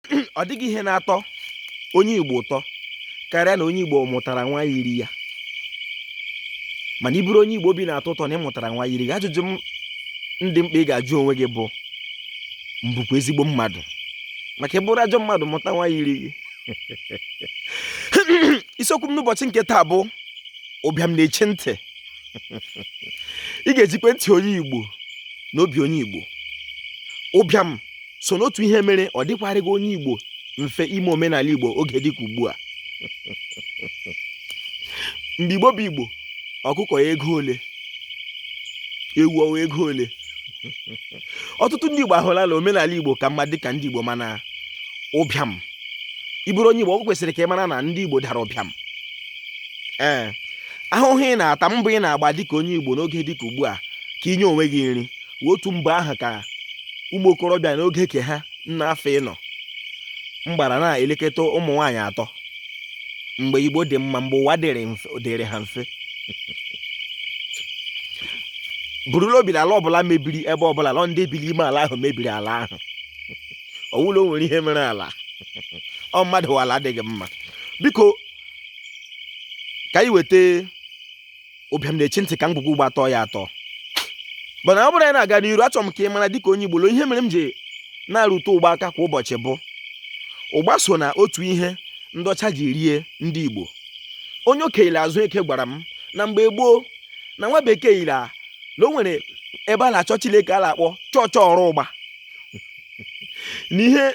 ọ dịghị ihe na-atọ onye Igbo ụtọ karịa na onye Igbo mụtara nwa yiri ya mana ị bụrụ onye Igbo obi na-atọ ụtọ na ị mụtara nwa yiri gị ajụjụ dị mkpa ị ga-ajụ onwe gị bụ m bụkwa ezigbo mmadụ maka ị bụrụ ajọ mmadụ mụta nwa yiri gị isiokwu m n'ụbọchị nke taa bụ ụbịam na-echi ntị ị ga-egekwe ntị onye Igbo na obi onye Igbo ụbịam so n'otu ihe mere ọ dịkwarịghị onye Igbo mfe ime omenala Igbo oge dịka ugbu a mgbe Igbo bụ Igbo ọkụkọ wụ ego ole ewu ọ wụ ego ole ọtụtụ ndị Igbo ahụla na omenala Igbo ka mma dịka ndị Igbo mana ụbịam ị bụrụ onye Igbo ọ kwesịrị ka ị mara na ndị Igbo dara ụbịam ee ahụhụ ị na-ata mbọ ị na-agba dịka onye Igbo n'oge dịka ugbu a ka i nye onwe gị nri otu mbọ ahụ ka ụmụ okorobịa n'oge ke ha nna afọ ịnọ m gbara na-elekọta ụmụ nwaanyị atọ mgbe igbo dị mma mgbe ụwa dịrị ha mfe buru l'obi na ala ọbụla mebiri ebe ọbụla ọ ndị bi l'ime ala ahụ mebiri ala ahụ ọ wụ la o nwere ihe mere ala ọ mmadụ wụ ala adịghị mma biko ka anyị weta ụbịam na-echi ntị ka ngwugwu ụgba tọọ ya atọ mana ọ bụrụ anyị na-aga n'iru achọrọ m ka ị mara dịka onye Igbo ihe mere m ji na-arụte ụgba aka kwa ụbọchị bụ ụgba so na otu ihe ndị ọcha ji rie ndị Igbo onye okenye Azụeke gwara m na mgbe gboo na nwa bekee yiri na o nwere ebe a na-achọ Chineke a na-akpọ chọọchị ọrụ ụgba n'ihe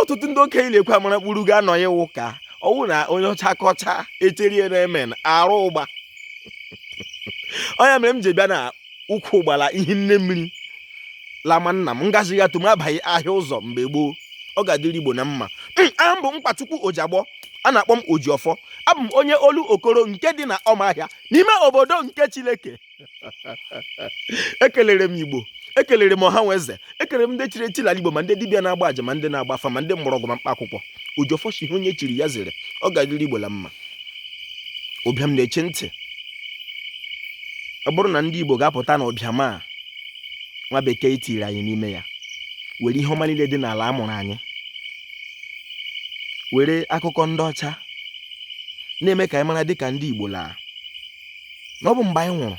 ọtụtụ ndị okenye na-ekwe amara kpuru ga-anọ ya wụ ka ọ wụ na onye ọcha kọcha echerie na emen arụ ụgba ọ ya mere m ji bịa na ukwu ụgba la ihe nne mmiri lama nna m ngazi ya tum abaghị ahịa ụzọ mgbe gboo ọ ga-adịrị igbo na mma hmm, aha m bụ mkpachukwu ojiagbọ a na-akpọ m ojiọfọ abụ m onye Olokoro nke dị na ọmahịa n'ime obodo nke chileke ekelere m igbo ekelere m ọha nwe eze ekelere m ndị chiri echi n'ala igbo ma ndị dibịa na-agba aja ma ndị na-agba afa ma ndị mgbọrọgwụ ma mkpa akwụkwọ ojiọfọ sị onye chiri ya zere ọ ga-adịrị igbo na mma ụbịam na-echi ntị ọ bụrụ na ndị igbo ga-apụta na ụbịam a nwa bekee tiri anyị n'ime ya were ihe ọma niile dị n'ala a mụrụ anyị were akụkọ ndị ọcha na-eme ka anyị mara dịka ndị igbo la na ọ bụ mgbe anyị nwụrụ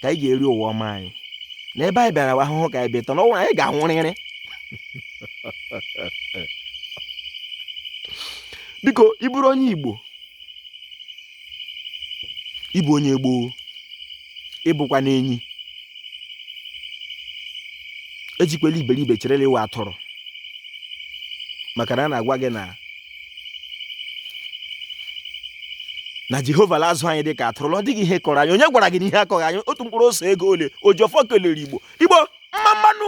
ka anyị ga-eri ụwa ọma anyị na ebe anyị bịara ahụhụ ka anyị bịa ịta na ọnwụ anyị ga-anwụrịrị biko ị bụrụ onye igbo ị bụ onye gboo ị bụkwanụ enyi ejikwela iberibe cherela iwe atụrụ maka na a na-agwa gị na na jehova la-azụ anyị dị ka atụrụ na ọ dịghị ihe kọrọ anyị onye gwara gị na ihe akọghị anyị otu mkpụrụ ose ego ole ojiọfọ kelere igbo igbo mma mma nụ